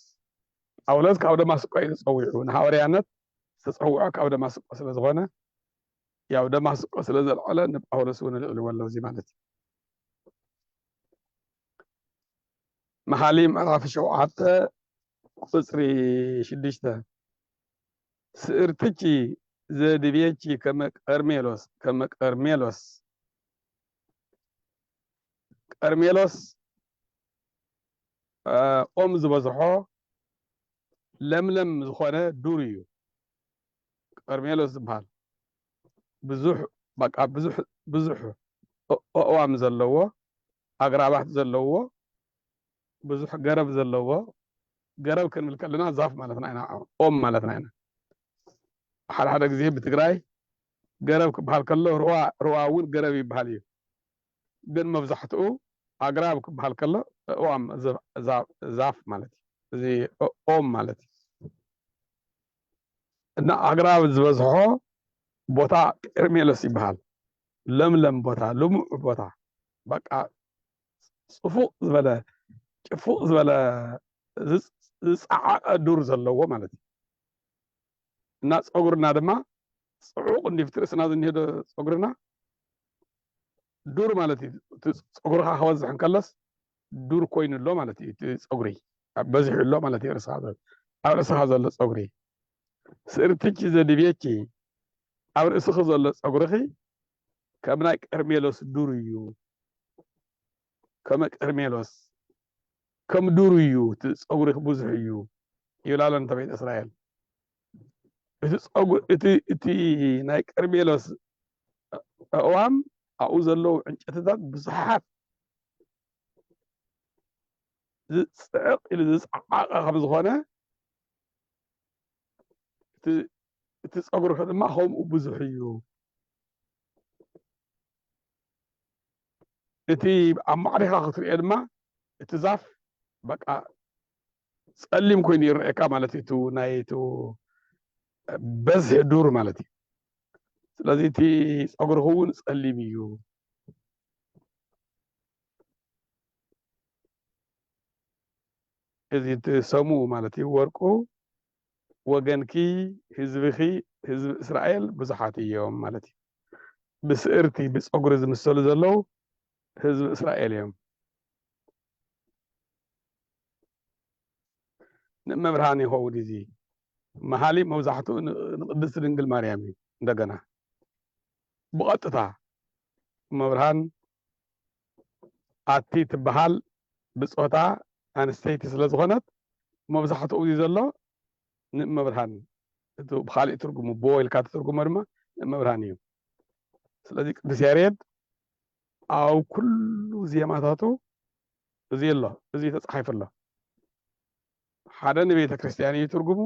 ጳውሎስ ካብ ደማስቆ እዩ ተፀዊዑ ንሃዋርያነት ዝተፀውዖ ካብ ደማስቆ ስለዝኾነ ያው ደማስቆ ስለዘልዐለ ንጳውሎስ እውን ልዕልዎ ኣሎ እዚ ማለት እዩ መሓሊ ምዕራፍ ሸውዓተ ቁፅሪ ሽዱሽተ ስእርትቺ ዘድቤቺ ከመ ቀርሜሎስ ከመ ቀርሜሎስ ቀርሜሎስ ኦም ዝበዝሖ ለምለም ዝኾነ ዱር እዩ ቀርሜሎስ ዝበሃል ብዙሕ በቃ ብዙሕ ብዙሕ ኣእዋም ዘለዎ ኣግራባት ዘለዎ ብዙሕ ገረብ ዘለዎ ገረብ ክንብል ከለና ዛፍ ማለትና ኢና ኦም ማለትና ኢና ሓደ ሓደ ግዜ ብትግራይ ገረብ ክበሃል ከሎ ሩዋ ሩዋ እውን ገረብ ይበሃል እዩ ግን መብዛሕትኡ ኣግራብ ክበሃል ከሎ እዋም ዛፍ ማለት እዩ እዚ ኦም ማለት እዩ እና ኣግራብ ዝበዝሖ ቦታ ቄርሜሎስ ይበሃል ለምለም ቦታ ልሙዕ ቦታ በቃ ፅፉቕ ዝበለ ጭፉቕ ዝበለ ዝፀዓቐ ዱር ዘለዎ ማለት እዩ እና ፀጉርና ድማ ፅዑቕ እንዲፍቲ ርእስና ዝኒሄዶ ፀጉርና ዱር ማለት እዩ እቲ ፀጉርካ ክበዝሕ እንከለስ ዱር ኮይኑ ኣሎ ማለት እዩ እቲ ፀጉሪ በዚሑ ኣሎ ማለት እዩ ርእስኻ ኣብ ርእስኻ ዘሎ ፀጉሪ ስእርትኪ ዘድብየኪ ኣብ ርእስኺ ዘሎ ጸጉርኺ ከም ናይ ቀርሜሎስ ዱር እዩ ከመ ቀርሜሎስ ከም ዱር እዩ እቲ ጸጉርኺ ብዙሕ እዩ ይብላ ኣሎ ንተ ቤተ እስራኤል እቲ ጸጉር እቲ እቲ ናይ ቀርሜሎስ ኣእዋም ኣብኡ ዘለዉ ዕንጨትታት ብዙሓት ዝፅዕቕ ኢሉ ዝፀዓቐ ከም ዝኾነ እቲ ፀጉርኺ ድማ ከምኡ ብዙሕ እዩ እቲ ኣብ ማዕሪኻ ክትሪኦ ድማ እቲ ዛፍ በቃ ጸሊም ኮይኑ ይረአየካ ማለት እዩ እቲ ናይ እቲ በዝሒ ዱር ማለት እዩ ስለዚ እቲ ፀጉርኺ እውን ጸሊም እዩ እዚ እትሰሙ ማለት እዩ ወርቁ ወገንኪ ህዝብኺ ህዝቢ እስራኤል ብዙሓት እዮም ማለት እዩ ብስእርቲ ብፀጉሪ ዝምሰሉ ዘለው ህዝቢ እስራኤል እዮም ንእመብርሃን ይኸውን እዚ መሃሊ መብዛሕትኡ ንቅድስቲ ድንግል ማርያም እዩ እንደገና ብቐጥታ እመብርሃን ኣቲ ትበሃል ብፆታ ኣንስተይቲ ስለዝኾነት መብዛሕትኡ እዚ ዘሎ ንእመብርሃን እቲ ብኻሊእ ትርጉሙ ብወ ኢልካ ትትርጉሞ ድማ ንእመብርሃን እዩ። ስለዚ ቅዱስ ያሬድ ኣብ ኩሉ ዜማታቱ እዚ ኣሎ እዚ ተፃሒፉ ኣሎ። ሓደ ንቤተ ክርስቲያን እዩ ትርጉሙ፣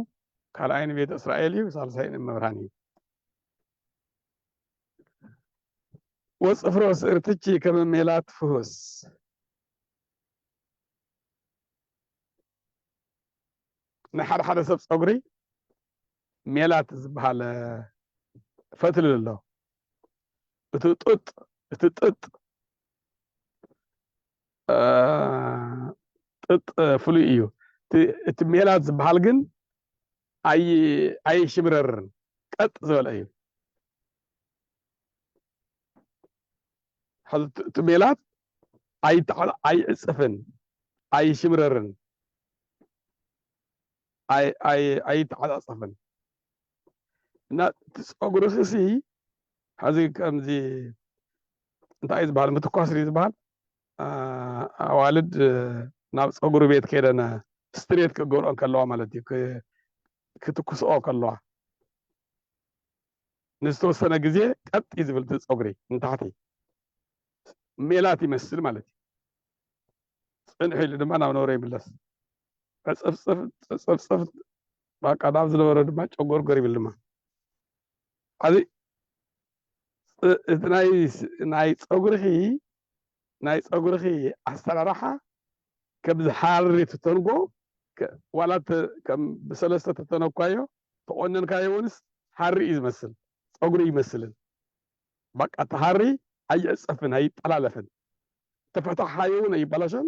ካልኣይ ንቤተ እስራኤል እዩ፣ ሳልሳይ ንእመብርሃን እዩ። ወጽፍሮ ስእርትቺ ከመ ሜላት ፍሁስ ንሓደ ሓደ ሰብ ፀጉሪ ሜላት ዝበሃል ፈትሊ ኣሎ እቲ ጡጥ እቲ ጥጥ ጥጥ ፍሉይ እዩ እቲ ሜላት ዝበሃል ግን ኣይ ኣይሽብረርን ቀጥ ዝበለ እዩ ሕዚ እቲ- እቲ ሜላት ኣይተዓ- ኣይዕፅፍን ኣይሽብረርን ኣይ ኣይ ኣይተዓፃፀፍን እና እቲ ፀጉርኺ ሲ ሕዚ ከምዚ እንታይ እዩ ዝበሃል ምትኳስ ድዩ ዝበሃል ኣዋልድ ናብ ፀጉሪ ቤት ከይደን ስትሬት ክገብርኦ ከለዋ ማለት እዩ ክትኩስኦ ከለዋ ንዝተወሰነ ግዜ ቀጥ እዩ ዝብል ፀጉሪ ንታሕቲ ሜላት ይመስል ማለት እዩ ፅንሕ ኢሉ ድማ ናብ ነበረ ይምለስ ዕፅፍፅፍ ፅፅፍፅፍ ባቃ ናብ ዝነበረ ድማ ጨጎርጎር ይብል ድማ ዓብይ እቲ ናይ ናይ ፀጉርኺ ናይ ፀጉርኺ ኣሰራርሓ ከምዚ ሃሪ ትተንጎ ዋላ ከም ብሰለስተ ተተነኳዮ ተቆነንካዮ እውንስ ሃሪ እዩ ዝመስል ፀጉሪ ኣይመስልን ባቃ እቲ ሃሪ ኣይዕፀፍን ኣይጠላለፍን ተፈታሕኻዮ እውን ኣይበላሾን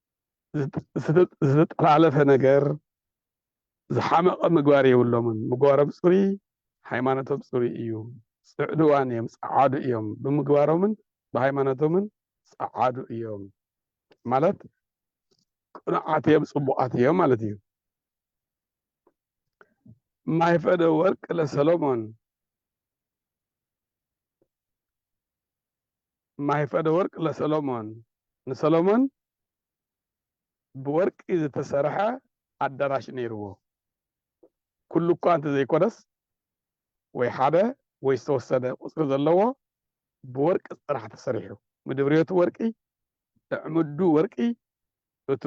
ዝተጠላለፈ ነገር ዝሓመቐ ምግባር የብሎምን ምግባሮም ፅሩይ ሃይማኖቶም ፅሩይ እዩ ፅዕዱዋን እዮም ፀዓዱ እዮም ብምግባሮምን ብሃይማኖቶምን ፀዓዱ እዮም ማለት ቅኑዓት እዮም ፅቡቓት እዮም ማለት እዩ ማይፈደ ወርቅ ለሰሎሞን ማይፈደወርቅ ለሰሎሞን ንሰሎሞን ብወርቂ ዝተሰርሐ ኣዳራሽ ነይርዎ። ኩሉ እኳ እንተዘይኮነስ ወይ ሓደ ወይ ዝተወሰነ ቁጽሪ ዘለዎ ብወርቂ ጥራሕ ተሰሪሑ። ምድብርዮቱ ወርቂ፣ ኣዕምዱ ወርቂ፣ እቱ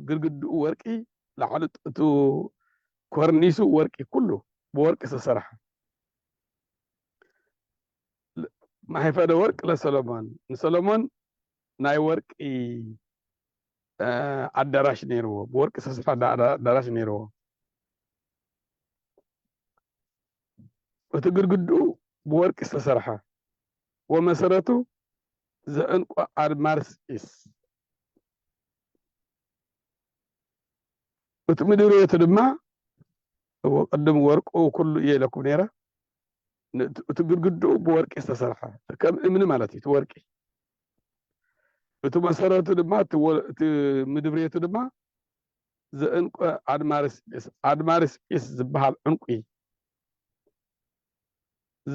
ግርግድኡ ወርቂ፣ ላዕሊ እቱ ኮርኒሱ ወርቂ ኩሉ ብወርቂ ዝተሰርሐ። ናይ ፈደወርቅ ለሰሎሞን ንሰሎሞን ናይ ወርቂ ኣዳራሽ ነይርዎ ብወርቂ ዝተሰርሐ ኣዳራሽ ነይርዎ እቲ ግድግድኡ ብወርቂ ዝተሰርሐ ወመሰረቱ ዝዕንቆ ኣድማርስ ኢስ እቲ ምድርቤቱ ድማ ቅድም ወርቁ ኩሉ እየ ኢለኩም ነይረ እቲ ግድግድኡ ብወርቂ ዝተሰርሐ ከም እምኒ ማለት እዩ እቲ ወርቂ እቲ መሰረቱ ድማ እቲ ምድብሬቱ ድማ ዘእንቆ ኣድማርስ ጲስ ኣድማርስ ጲስ ዝበሃል ዕንቁ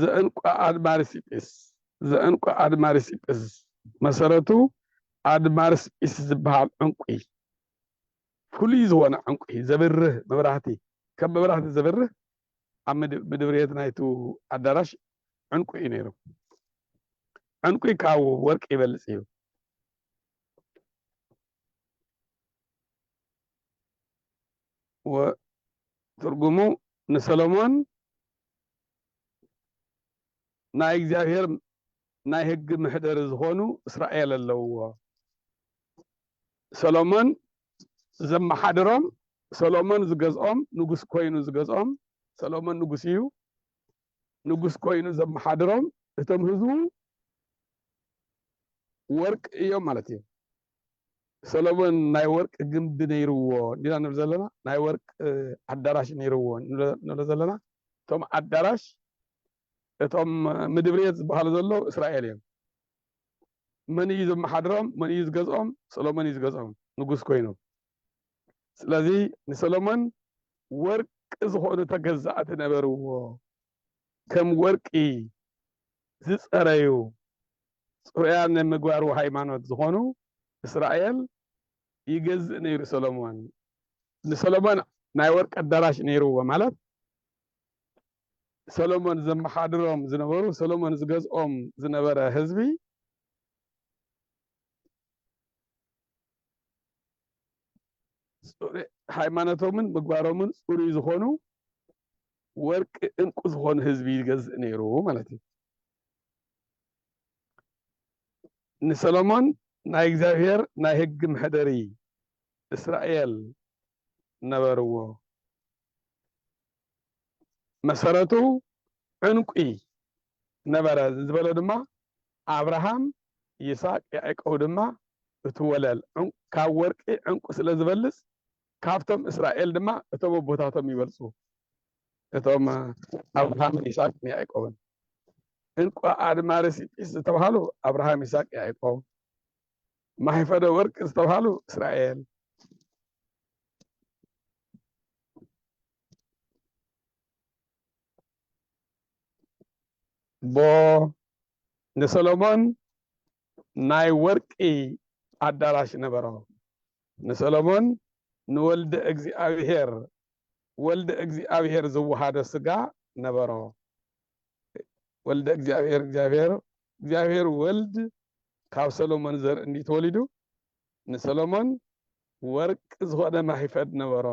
ዘእንቆ ኣድማርስ ጲስ ዘእንቆ ኣድማርስ ጲስ መሰረቱ ኣድማርስ ጲስ ዝበሃል ዕንቁ ፍሉይ ዝኾነ ዕንቁ ዘብርህ መብራህቲ ከም መብራህቲ ዘብርህ ኣብ ምድብርየት ናይቱ ኣዳራሽ ዕንቊ እዩ ነይሩ። ዕንቊ ካብ ወርቂ ይበልጽ እዩ። ትርጉሙ ንሰሎሞን ናይ እግዚኣብሔር ናይ ሕጊ ምሕደሪ ዝኾኑ እስራኤል ኣለውዎ። ሰሎሞን ዘመሓድሮም፣ ሰሎሞን ዝገዝኦም፣ ንጉስ ኰይኑ ዝገዝኦም፣ ሰሎሞን ንጉስ እዩ፣ ንጉስ ኰይኑ ዘመሓድሮም፣ እቶም ህዝቡ ወርቂ እዮም ማለት እዩ። ሰሎሞን ናይ ወርቂ ግምቢ ነይርዎ እንዲና ንብል ዘለና፣ ናይ ወርቂ ኣዳራሽ ነይርዎ ንብሎ ዘለና። እቶም ኣዳራሽ እቶም ምድብሬት ዝበሃሉ ዘለዉ እስራኤል እዮም። መን እዩ ዘመሓድሮም መን እዩ ዝገዝኦም ሰሎሞን እዩ ዝገዝኦም ንጉስ ኮይኑ ስለዚ ንሰሎሞን ወርቂ ዝኾኑ ተገዛእቲ ነበርዎ ከም ወርቂ ዝጸረዩ ጽሩያን ናይ ምግባሩ ሃይማኖት ዝኾኑ እስራኤል ይገዝእ ነይሩ ሰሎሞን ንሰሎሞን ናይ ወርቂ ኣዳራሽ ነይርዎ ማለት ሰሎሞን ዘመሓድሮም ዝነበሩ ሰሎሞን ዝገዝኦም ዝነበረ ህዝቢ ሃይማኖቶምን ምግባሮምን ፅሩይ ዝኾኑ ወርቂ እንቁ ዝኾኑ ህዝቢ ይገዝእ ነይሩ ማለት እዩ ንሰሎሞን ናይ እግዚኣብሔር ናይ ህግ መሕደሪ እስራኤል ነበርዎ መሰረቱ ዕንቊ ነበረ ዝበሎ ድማ ኣብርሃም ይስሐቅ ያዕቆብ ድማ እቲ ወለል ካብ ወርቂ ዕንቊ ስለ ዝበልጽ ካብቶም እስራኤል ድማ እቶም ኣቦታቶም ይበልጹ እቶም ኣብርሃምን ይስሐቅን ያዕቆብን ዕንቊ ኣድማ ሬሲጲስ ዝተባሃሉ ኣብርሃም ይስሐቅ ያዕቆብ ማሕፈደ ወርቂ ዝተባሃሉ እስራኤል እሞ ንሰሎሞን ናይ ወርቂ ኣዳራሽ ነበሮ። ንሰሎሞን ንወልደ እግዚኣብሔር ወልደ እግዚኣብሔር ዝወሃዶ ስጋ ነበሮ። ወልደ እግዚኣብሔር እግዚኣብሔር እግዚኣብሔር ወልድ ካብ ሰሎሞን ዘርኢ እንዲዩ ተወሊዱ ንሰሎሞን ወርቂ ዝኾነ ማሂፈድ ነበሮ፣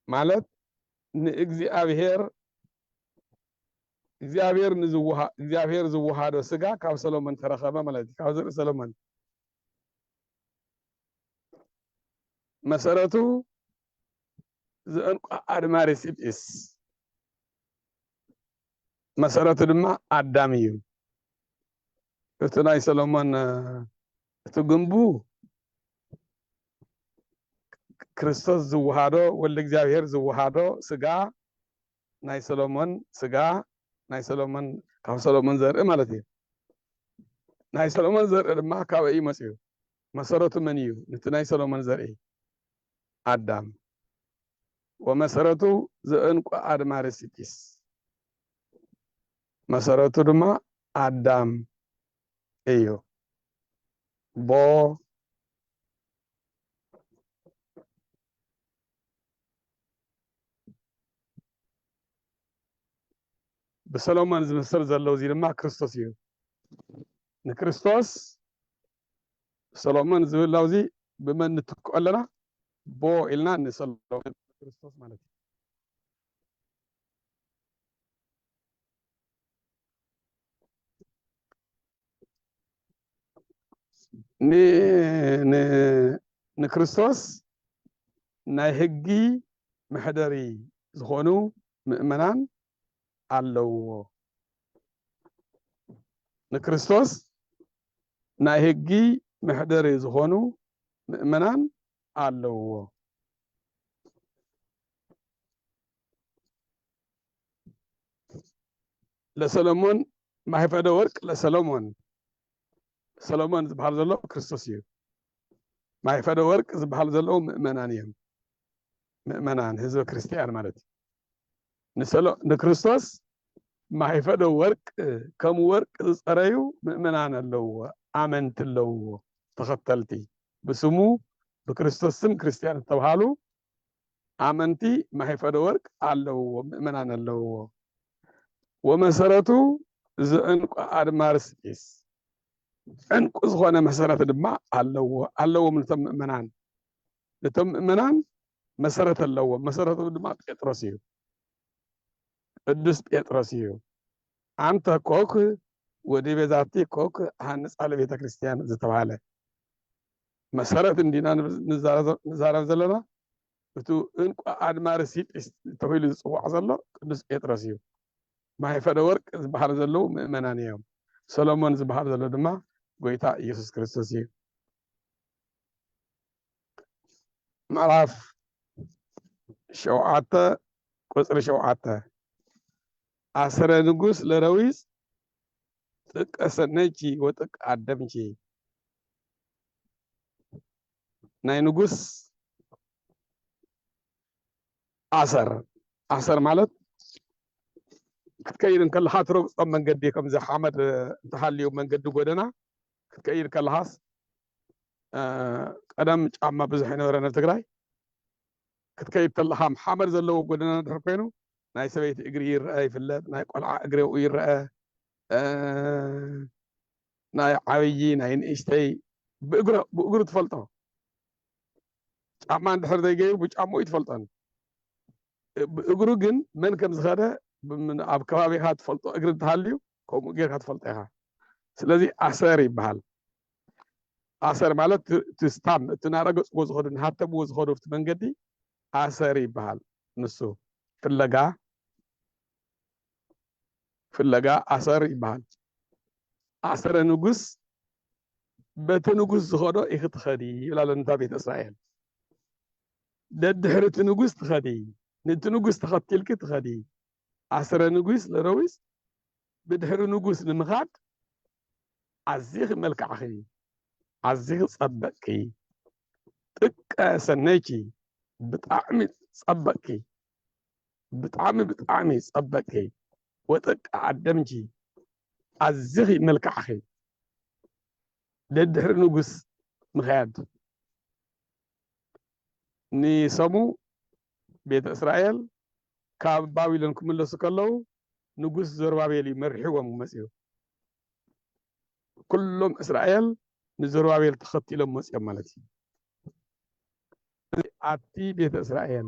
ማለት ንእግዚኣብሔር እግዚኣብሔር ንዝወሃ እግዚኣብሔር ዝወሃዶ ስጋ ካብ ሰሎሞን ተረኸበ ማለት እዩ። ካብ ዘርኢ ሰሎሞን መሰረቱ ዝዕንቋ ኣድማሪ ሲጲስ መሰረቱ ድማ ኣዳም እዩ። እቲ ናይ ሰሎሞን እቲ ግንቡ ክርስቶስ ዝወሃዶ ወልድ እግዚኣብሔር ዝወሃዶ ስጋ ናይ ሰሎሞን ስጋ ናይ ሰሎሞን ካብ ሰሎሞን ዘርኢ ማለት እዩ። ናይ ሰሎሞን ዘርኢ ድማ ካበይ እዩ መፅኡ? መሰረቱ መን እዩ? ነቲ ናይ ሰሎሞን ዘርኢ ኣዳም ወመሰረቱ ዘእንቁ ኣድማሪ ሲጢስ መሰረቱ ድማ ኣዳም እዩ ቦ ብሰሎሞን ዝምሰል ዘሎ እዚ ድማ ክርስቶስ እዩ ንክርስቶስ ሰሎሞን ዝብል ላውዚ ብመን ንትክኦ ኣለና ቦ ኢልና ንሰሎሞን ክርስቶስ ማለት እዩ ንክርስቶስ ናይ ህጊ መሕደሪ ዝኾኑ ምእመናን ኣለውዎ። ንክርስቶስ ናይ ህጊ መሕደሪ ዝኾኑ ምእመናን ኣለውዎ። ለሰለሞን ማህፈደ ወርቅ ለሰለሞን ሰሎሞን ዝበሃል ዘሎ ክርስቶስ እዩ። ማይፈደ ወርቅ ዝበሃል ዘለዉ ምእመናን እዮም። ምእመናን ህዝበ ክርስቲያን ማለት እዩ። ንሰሎ ንክርስቶስ ማይፈዶ ወርቅ ከም ወርቅ ዝጸረዩ ምእመናን ኣለውዎ ኣመንቲ ኣለውዎ ተኸተልቲ ብስሙ ብክርስቶስ ስም ክርስትያን ዝተብሃሉ ኣመንቲ ማይፈዶ ወርቅ ኣለውዎ ምእመናን ኣለውዎ ወመሰረቱ ዝዕንቁ ኣድማርስ ቂስ ዕንቁ ዝኾነ መሰረት ድማ ኣለዎ ኣለዎም ንቶም ምእመናን እቶም ምእመናን መሰረት ኣለዎም። መሰረቶም ድማ ጴጥሮስ እዩ፣ ቅዱስ ጴጥሮስ እዩ። ኣንተ ኮክ ወዲ ቤዛቲ ኮክ ሃንጻ ለቤተ ክርስቲያን ዝተባሃለ መሰረት እንዲና ንዛረብ ዘለና እቱ እንቋ ኣድማሪ ሲጲስ ተባሂሉ ዝፅዋዕ ዘሎ ቅዱስ ጴጥሮስ እዩ። ማይፈደ ወርቅ ዝበሃሉ ዘለዉ ምእመናን እዮም። ሰሎሞን ዝበሃል ዘሎ ድማ ጎይታ ኢየሱስ ክርስቶስ እዩ። ምዕራፍ ሸውዓተ ቁፅሪ ሸውዓተ ኣስረ ንጉስ ለረዊስ ጥቀ ሰነይቺ ወጥቀ ኣደምቺ ናይ ንጉስ ኣሰር ኣሰር ማለት ክትከይድ እንከለካ ትረግፆም መንገዲ ከምዚ ሓመድ እንተሃልዩ መንገዲ ጎደና ክትቀይድ ከለኻስ ቀደም ጫማ ብዙሕ ኣይነበረን ኣብ ትግራይ ክትከይድ ከለኻ ሓመድ ዘለዎ ጎደና ድሕር ኮይኑ ናይ ሰበይቲ እግሪ ይረአ ይፍለጥ ናይ ቆልዓ እግሪ ኣብኡ ይረአ ናይ ዓብዪ ናይ ንእሽተይ ብእግሩ ትፈልጦ ጫማ እንድሕር ዘይገይሩ ብጫምኡ እዩ ትፈልጦን ብእግሩ ግን መን ከም ዝኸደ ኣብ ከባቢኻ ትፈልጦ እግሪ እንተሃልዩ ከምኡ ጌርካ ትፈልጦ ኢኻ ስለዚ ኣሰር ይበሃል ኣሰር ማለት እቲ ስታም እቲ ናረገፅዎ ዝኸዱ ንሃተምዎ ዝኸዱ ኣብቲ መንገዲ ኣሰር ይበሃል ንሱ ፍለጋ ፍለጋ ኣሰር ይበሃል ኣሰረ ንጉስ በቲ ንጉስ ዝኸዶ ኢኽትኸዲ ይብላ ለንታ ቤተ እስራኤል ደድሕሪ እቲ ንጉስ ትኸዲ፣ ነቲ ንጉስ ተኸቲልኪ ትኸዲ። ኣስረ ንጉስ ለረዊስ ብድሕሪ ንጉስ ንምኻድ ኣዚኺ መልካዕኺ፣ ኣዚኺ ጸበቅኪ፣ ጥቀ ሰነይኪ ብጣዕሚ ጸበቅኪ፣ ብጣዕሚ ብጣዕሚ ጸበቅኪ፣ ወጥቀ ኣደምኪ ኣዚኺ መልካዕኺ፣ ደድሕሪ ንጉስ ምኽያድ። ንሰሙ ቤተ እስራኤል ካብ ባቢሎን ክምለሱ ከለዉ ንጉስ ዘሩባቤል እዩ መሪሕዎም መፅኡ። ኩሎም እስራኤል ንዘሩባቤል ተኸቲሎም መፅኦም ማለት እዩ። ኣቲ ቤተ እስራኤል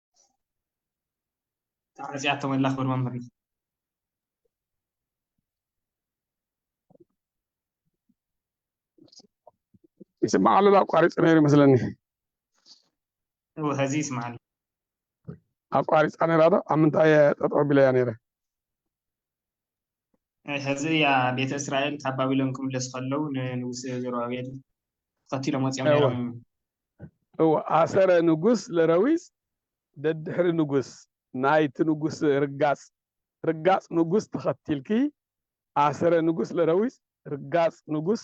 ተዓጽያቶም ኣላ ክብል መምህርና ይስማዕ ኣሎ ኣቋሪፀ ነይሩ ይመስለኒ እወ ሀዚ ይስማዕ ኣሎ ኣቋሪፃ ነይራ ዶ ኣብ ምንታይ እየ ጠጠው ቢለያ ነይረ ሕዚ እያ ቤተ እስራኤል ካብ ባቢሎን ክምለሱ ከለው ንንጉስ ዘሩባቤል ተኸቲሎም ወፂኦም ነይሮም እወ ኣሰረ ንጉስ ለረዊፅ ደድሕሪ ንጉስ ናይቲ ንጉስ ርጋፅ ርጋፅ ንጉስ ተኸቲልኪ ኣሰረ ንጉስ ለረዊፅ ርጋፅ ንጉስ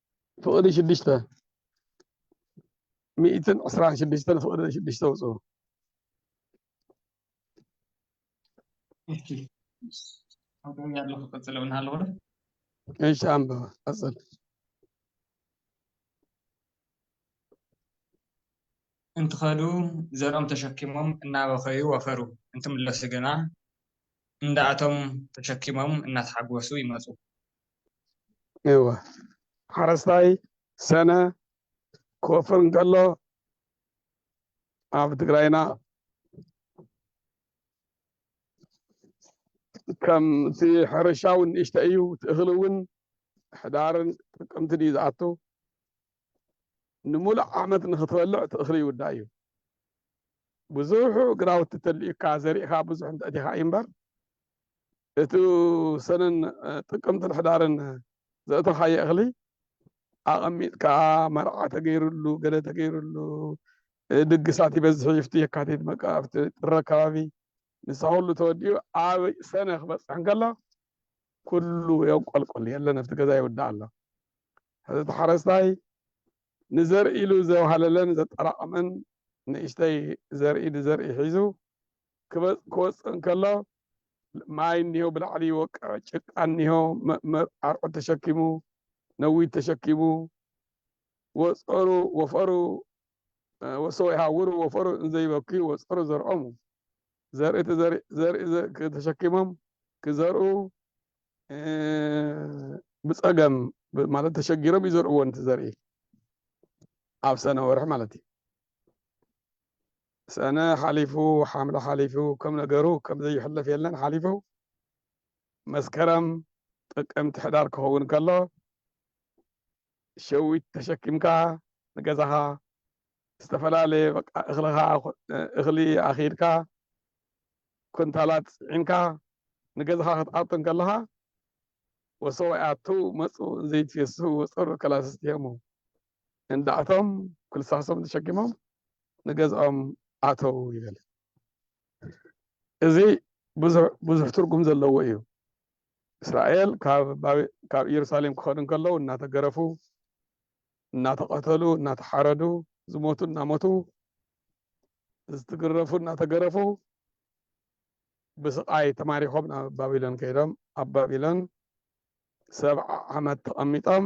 ፍቕዲ ሽዱሽተ ሚእትን ዕስራን ሽዱሽተ ፍቕዲ ሽዱሽተ ውፅኡ እሺ ኣንብበ ቀፅል እንትኸዱ ዘርኦም ተሸኪሞም እናበኸዩ ወፈሩ እንትምለሱ ግና እንዳእቶም ተሸኪሞም እናተሓጎሱ ይመፁ። እወ ሓረስታይ ሰነ ክወፍር እንከሎ ኣብ ትግራይና ከምቲ ሕርሻ እውን ንእሽተ እዩ እኽሊ እውን ሕዳርን ጥቅምትን እዩ ዝኣቱ ንምሉእ ዓመት ንክትበልዕ እቲ እኽሊ ይውዳ እዩ ብዙሑ ግራውቲ ተልዩካ ዘሪእካ ብዙሕ እንተእቲኻ እዩ እምበር እቱ ሰነን ጥቅምትን ሕዳርን ዘእተኻዮ እኽሊ ኣቐሚጥካ መርዓ ተገይርሉ ገለ ተገይርሉ ድግሳት ይበዝሕ እዩ ኣብቲ የካቲት በቃ ኣብቲ ጥሪ ኣካባቢ ንሳ ኩሉ ተወዲኡ ኣብ ሰነ ክበፅሕ እንከሎ ኩሉ የንቆልቆል የለን ኣብቲ ገዛ ይውዳእ ኣሎ ሕዚ እቲ ሓረስታይ ንዘርኢ ኢሉ ዘውሃለለን ዘጠራቐመን ንእሽተይ ዘርኢ ንዘርኢ ሒዙ ክወጽእ እንከሎ ማይ እኒሆ ብላዕሊ ይወቅዕ፣ ጭቃ እኒሆ ኣርዑት ተሸኪሙ፣ ነዊት ተሸኪሙ፣ ወጸሩ ወፈሩ ወሰው ይሃውሩ ወፈሩ እንዘይበክዩ ወጸሩ ዘርዖሙ ዘርኢ ተሸኪሞም ክዘርኡ ብጸገም ማለት ተሸጊሮም ይዘርእዎ ንቲ ዘርኢ ኣብ ሰነ ወርሒ ማለት እዩ ሰነ ሓሊፉ ሓምለ ሓሊፉ ከም ነገሩ ከም ዘይሕለፍ የለን ሓሊፉ መስከረም ጥቅምቲ ሕዳር ክኸውን ከሎ ሸዊት ተሸኪምካ ንገዛኻ ዝተፈላለየ በቃ እኽልኻ እኽሊ ኣኺድካ ኩንታላት ጽዒንካ ንገዛኻ ክትኣቱ እንከለኻ ወሰዋያቱ መጹ ዘይትየሱ ወጸሩ ከላስስቲየሙ እንድኣቶም ኩልሳሶም ተሸኪሞም ንገዝኦም ኣተዉ ይብል። እዚ ብዙሕ ትርጉም ዘለዎ እዩ። እስራኤል ካብ ኢየሩሳሌም ክኸዱ እንከለዉ እናተገረፉ፣ እናተቐተሉ፣ እናተሓረዱ፣ ዝሞቱ እናሞቱ፣ ዝትግረፉ እናተገረፉ ብስቃይ ተማሪኾም ናብ ባቢሎን ከይዶም ኣብ ባቢሎን ሰብዓ ዓመት ተቐሚጦም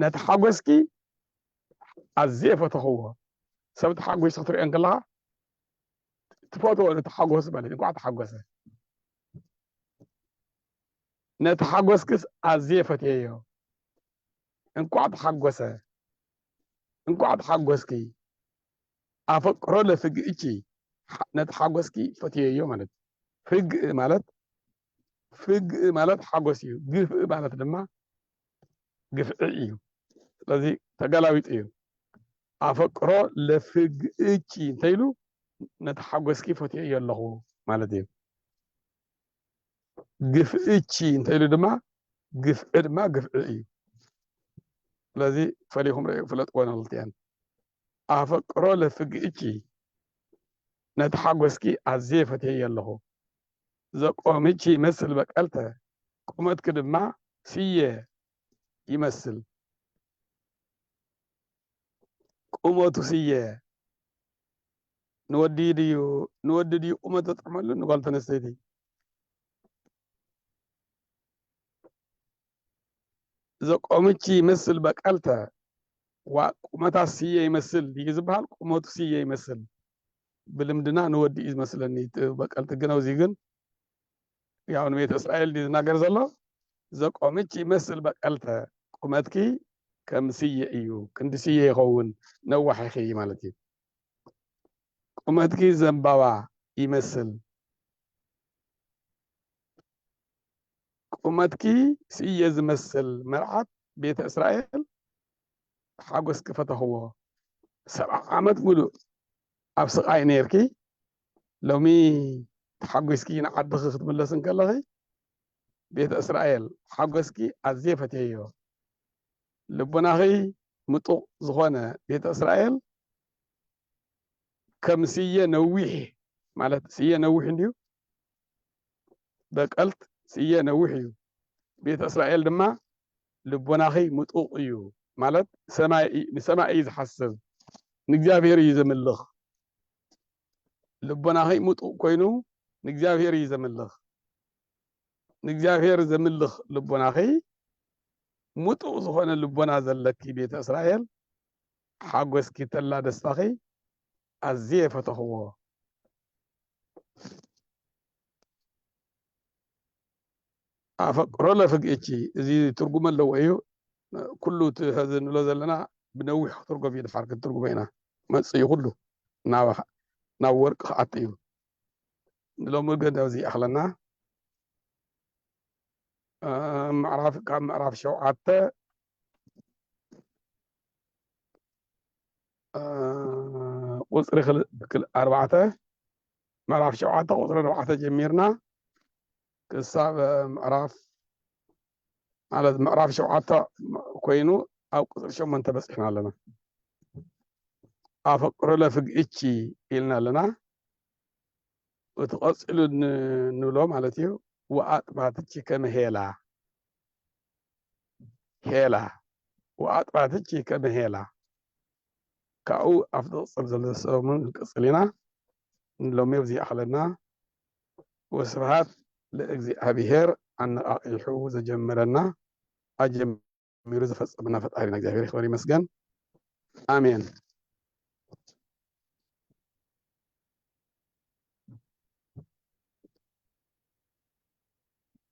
ነቲ ሓጎስኪ ኣዝየ ፈተኽዎ ሰብ ተሓጒሱ ክትሪኦ እንከለኻ ትፈትዎ ነቲ ሓጎስ ማለት እንኳዕ ተሓጎሰ ነቲ ሓጎስክስ ኣዝየ ፈትየዮ እንኳዕ ተሓጎሰ እንኳዕ ተሓጎስኪ ኣፈቅሮ ለፍግእቺ ነቲ ሓጎስኪ ፈትየዮ ማለት ፍግእ ማለት ፍግእ ማለት ሓጎስ እዩ፣ ግፍእ ማለት ድማ ግፍዒ እዩ። ስለዚ ተጋላዊጥ እዩ። ኣፈቅሮ ለፍግእኪ እንተይሉ ነቲ ሓጎስኪ ፈትየዮ ኣለኹ ማለት እዩ። ግፍእኪ እንተይሉ ድማ ግፍዒ ድማ ግፍዒ እዩ። ስለዚ ፈሊኹም ረዩ ፍለጥዎ ንክልቲኤን። ኣፈቅሮ ለፍግእኪ ነቲ ሓጎስኪ ኣዝየ ፈትየዮ ኣለኹ። ዘቆምች ይመስል በቀልተ ቁመትክ ድማ ስየ ይመስል ቁመቱ ስየ ንወዲ ድዩ ንወዲ ድዩ ቁመት ዘጥዕመሉ ንጓል ተነስተይቲ ዘቆምች ይመስል በቀልተ ዋ ቁመታ ስየ ይመስል ድዩ ዝበሃል ቁመቱ ስየ ይመስል ብልምድና ንወዲ እዩ ዝመስለኒ በቀል ትግነው እዚ ግን ያው ንቤተ እስራኤል ድዩ ዝናገር ዘሎ ዘቆምች ይመስል በቀልተ ቁመትኪ ከም ስየ እዩ ክንዲ ስየ ይኸውን ነዋሕ ኢኺ ማለት እዩ ቁመትኪ ዘንባባ ይመስል ቁመትኪ ስየ ዝመስል መርዓት ቤተ እስራኤል ሓጎስኪ ፈተኽዎ ሰብዓ ዓመት ሙሉእ ኣብ ስቓይ ኔርኪ ሎሚ ተሓጒስኪ ንዓድኺ ክትምለሲ እንከለኺ ቤተ እስራኤል ሓጎስኪ ኣዝየ ፈትየዮ ልቦናኺ ምጡቕ ዝኾነ ቤተ እስራኤል ከም ስየ ነዊሕ ማለት ስየ ነዊሕ እንድዩ በቀልት ስየ ነዊሕ እዩ ቤተ እስራኤል ድማ ልቦናኺ ምጡቅ እዩ ማለት ሰማይ ንሰማይ እዩ ዝሓስብ ንእግዚኣብሔር እዩ ዘምልኽ ልቦናኺ ምጡቅ ኮይኑ ንእግዚኣብሔር እዩ ዘምልኽ ንእግዚኣብሔር ዘምልኽ ልቦናኺ ምጡቅ ዝኾነ ልቦና ዘለኪ ቤተ እስራኤል ሓጎስኪ ተላ ደስታኺ ኣዝየ ፈተኽዎ። ኣፈቅሮ ለፍግእኪ እዚ ትርጉም ኣለዎ እዩ ኩሉ እቲ ሕዚ ንብሎ ዘለና ብነዊሕ ክትርጎም እዩ ድሓር ክትርጉሞ ኢና መፅ እዩ ኩሉ ናብ ወርቂ ክኣት እዩ ንሎሚ ግን ኣብዚ ይኣኽለና ምዕራፍ ካብ ምዕራፍ ሸውዓተ ቁፅሪ ኣርባዕተ ምዕራፍ ሸውዓተ ቁፅሪ ኣርባዕተ ጀሚርና ክሳብ ምዕራፍ ማለት ምዕራፍ ሸውዓተ ኮይኑ ኣብ ቁፅሪ ሸሞንተ በፂሕና ኣለና ኣፈቅሮ ለፍግእቺ ኢልና ኣለና እቲ ቀፂሉ ንብሎ ማለት እዩ ወኣጥባትቺ ከመሄላ ሄላ ወኣጥራትኪ ከመ ሄላ ካብኡ ኣብ ዝቕፅል ዘሎ ሰሙን ክንቅፅል ኢና። ንሎሚ ኣብዚ ይኣኽለና። ወስብሃት ለእግዚኣብሄር ኣነቓቒሑ ዘጀመረና ኣጀሚሩ ዘፈፀመና ፈጣሪና እግዚኣብሄር ይኽበር ይመስገን። ኣሜን።